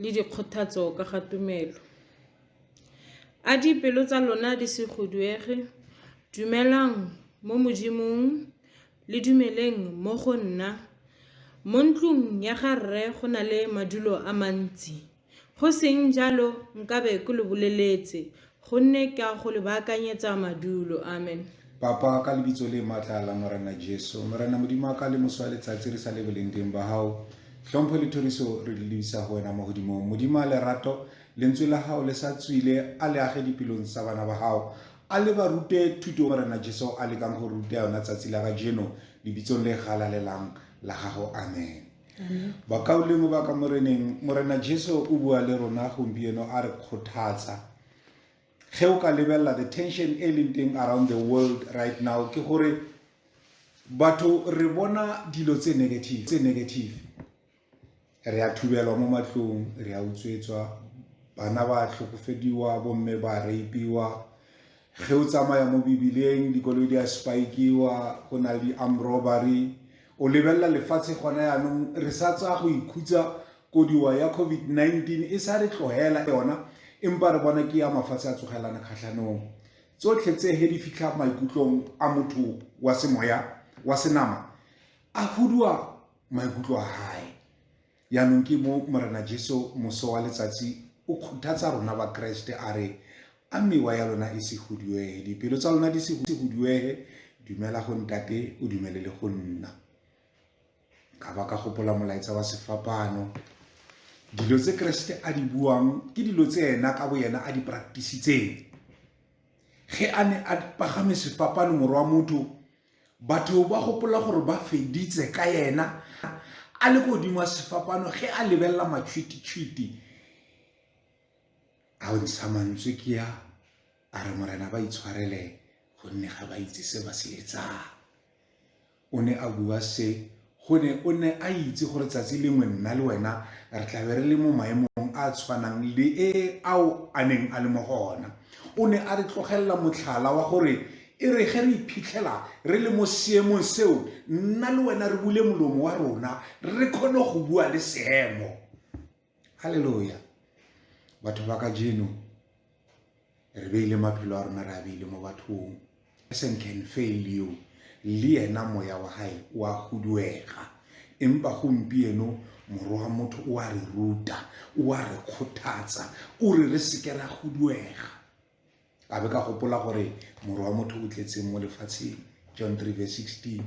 le dikgothatso ka ga tumelo. A dipelo tsa lona di se khuduege, dumelang mo Modimong, le dumeleng mo go nna. Mo ntlong ya ga Rre go na le madulo a mantsi, go seng jalo nkabe ke lo boleletse Gonne ke a go le baakanyetsa madulo. Amen. Papa, ka lebitso le matla la Morena Jesu, Morena Modimo wa ka le moso wa letsatsi re sa le boleng teng ba hao, tlhompho le thoriso re di lebisa go wena mo godimong. Modimo a lerato, lentswe la hao le sa tswile, a le age dipelong tsa bana ba hao. A le ba rute thuto Morena Jesu a lekang go ruta yona tsatsi la kajeno, lebitsong le galalelang la gago. Amen. bakaulengwe ba ka moreneng morena jesu o bua le rona gompieno a re kgothatsa ge o ka lebelela the tension e leng teng around the world right now ke gore batho re bona dilo tse negative tse negative re a thubelwa mo matlong re a utswetswa bana ba tlhokofediwa bomme ba rapiwa ge o tsamaya mo bibileng dikoloi di a spikiwa go na le di-arm robbery o lebelela lefatshe gona yaanong re sa tsaya go ikhutsa kodiwa ya covid-19 e sa re tlogela yona empa re bona ke ya mafatshe a tsogelana kgatlhanong tsotlhe tse he di fitlha maikutlong a motho wa semoya wa senama a huduwa maikutlo a gae Jaanong ke mo Morena Jesu moso wa letsatsi o kgothatsa rona ba Kreste a re a mewa ya lona e se huduege dipelo tsa lona di se huduege dumela go ntate o dumele le go nna ka ba ka gopola molaetsa wa sefapano dilo tse Kreste a di buang ke dilo tse ena ka bo yena a di practicitseng ge a ne a pagame sefapano morwa motho Batho ba gopola gore ba feditse ka yena a le godimo a sefapano ge a lebelela matšhwititšhwiti a o ntsha mantswe ke ya a re morena ba itshwarele gonne ga ba itse se ba se etsang o ne a bua se gone o ne a itse gore tsatsi lengwe nna le wena re tlabe re le mo maemong a tshwanang le e ao a neng a le mo go ona o ne a re tlogelela motlhala wa gore e re ge re iphitlhela re le mo seemong seo nna le wena re bule molomo wa rona re kgone go bua le seemo halleluja batho ba ka jeno re beile maphelo a rona re a beile mo bathong person can fail you le ena moya wa gae o a huduega empa gompieno moro wa motho o a re ruta o a re kgothatsa o re re seke ra huduega ka be ka gopola gore moro wa motho o tletseng mo lefatsheng john 3 verse 16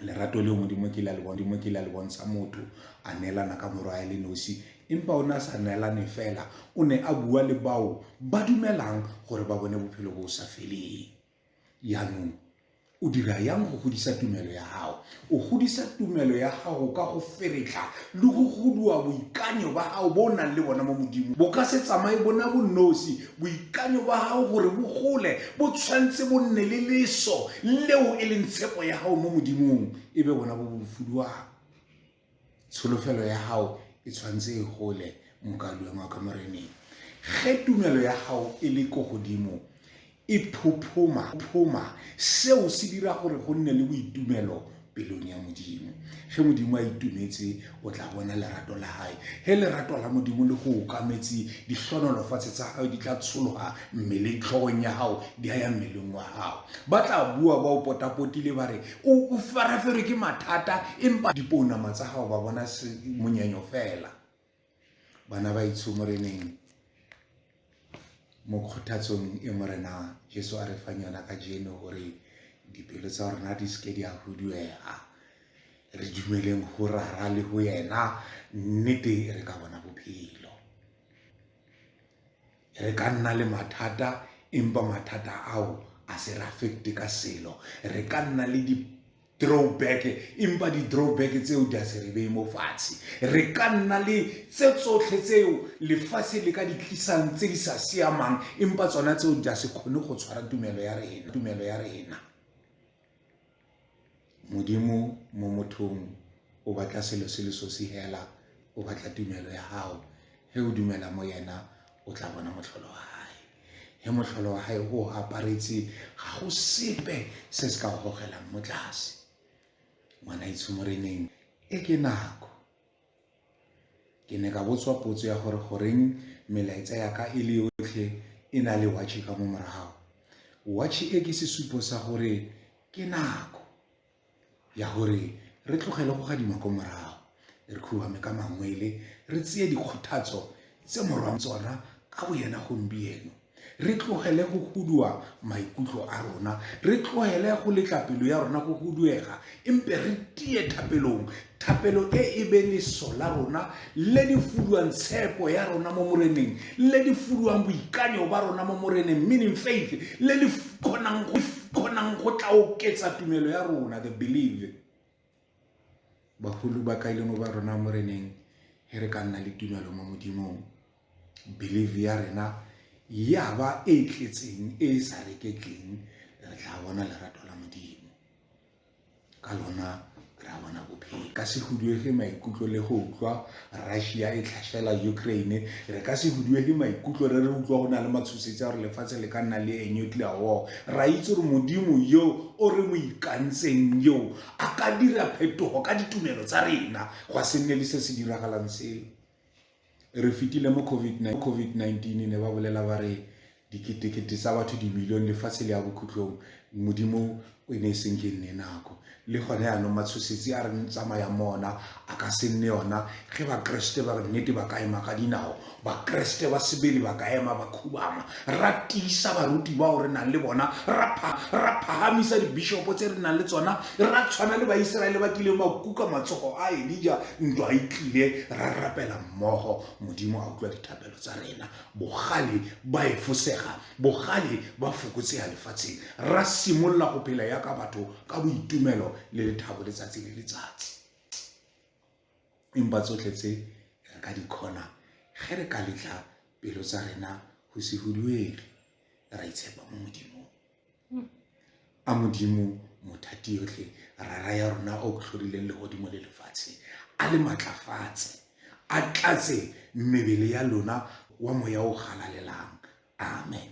lerato leo modimo ke la le modimo ke la le bontsha motho a neelana ka morwae le nosi empa o ne a sa neelane fela o ne a bua le bao ba dumelang gore ba bone bophelo bo sa feleng yaanong o dira yang go godisa tumelo ya gago o godisa tumelo ya gago ka go feretla le go goduwa boikanyo ba gago bo o nang le bona mo modimo bo ka se tsamaye bona bo nosi Boikanyo ba gago gore bo gole bo tshwanetse bo nne le leso leo e leng tshepo ya gago mo modimong e be bona bo bofuduang tsholofelo ya gago e tshwanetse e gole mokaduang wa ka moreneng ge tumelo ya gago e le ko godimo e phophoma phoma seo se dira gore go nne le boitumelo pelong ya modimo ge modimo a itumetse o tla bona lerato la gae ge lerato la modimo le go okametse dihlonolofatshe tsa gago di tla tshologa mmeleng tlhogong ya gago di a ya mmeleng wa gago ba tla bua ba o potapotile ba re o faraferwe ke mathata empa dipounama tsa gago ba bona monyenyo fela Banabaitsho mo re neng mo kgothatsong e Morena Jesu a re fang yona ka jeno gore dipelo tsa rona di seke di a huduega re dumeleng go rara le go yena nnete re ka bona bophelo re ka nna le mathata empa mathata ao a se re affecte ka selo re ka nna le di drawback empa di-drawback tseo di a se re beye mo fatshe re ka nna le tse tsotlhe tseo lefatshe le ka di tlisang tse di sa siamang empa tsona tseo di a se kgone go tshwara tumelo ya rena tumelo ya rena Modimo mo mothong o batla selo se le sosi hela o batla tumelo ya hao he o dumela mo yena o tla bona motlholo wa hae he motlholo wa hae o aparetse ga go sepe se se ka gogelang mo tlase ngwana itshomoreneng e ke nako Ke ne ka botswa potso ya gore goreng melaetsa ya ka e le yotlhe e na le watšhe ka mo morago. Watšhe e ke sesupo sa gore ke nako ya gore re tlogele go gadima ko morago, re khuame ka mangwele, re tseye dikgothatso tse morwang tsona ka boyena gompieno. re tlogele go huduwa maikutlo a rona re tlogele go letla pelo ya rona go huduega empe re tie thapelong thapelo e e be leso la rona le di fuduwang tshepo ya rona mo moreneng le di fuduwang boikanyo ba rona mo moreneng meaning faith le le kgonang go tla oketsa tumelo ya rona the believe Bagolo ba ka e le mo ba rona mo re neng he re ka nna le tumelo mo modimong believe ya rena ya ba e tletseng e e sa reketleng re tla bona lerato la modimo ka lona ra bona bophelo ka se huduege maikutlo le go utlwa Russia e tlhashela Ukraine re ka se huduele maikutlo re re utlwa go na le matshosetsi a gore lefatshe le ka nna le e nuclear war ra itse gore modimo yo o re mo ikantseng yo a ka dira phetogo ka ditumelo tsa rena go se nne le se se diragalang seo re fetile mo covid-19 ne ba bolela ba re diketekete tsa batho dimilione lefatshe le ya bokhutlong modimo o e ne e seng ke nne nako le gone yaanong matshosetsi a re tsamaya mona a ka se nne yona ge bakeresete ba re nnete ba ka ema ka dinao bakeresete ba sebele ba ka ema ba khubama ra tiisa baruti bao re nang le bona ra phagamisa dibishopo tse re nang le tsona ra tshwana le baiseraele ba kileng ba kuka matsogo a elija ntwa e tlile ra rapela mmogo modimo a utlwa dithapelo tsa rena Bogale ba efosega, bogale ba fokotsega lefatsheng. Ra simolola go phela yaka batho ka boitumelo le lethabo letsatsi le letsatsi. Empa tsotlhe tse re ka di kgona ge re ka letla pelo tsa rena go se huduege ra itshepa mo Modimong. a modimo mothati yotlhe rara ya rona o tlhorileng legodimo le lefatshe a le matlafatse a tlatse mebele ya lona wa moya o galalelang amen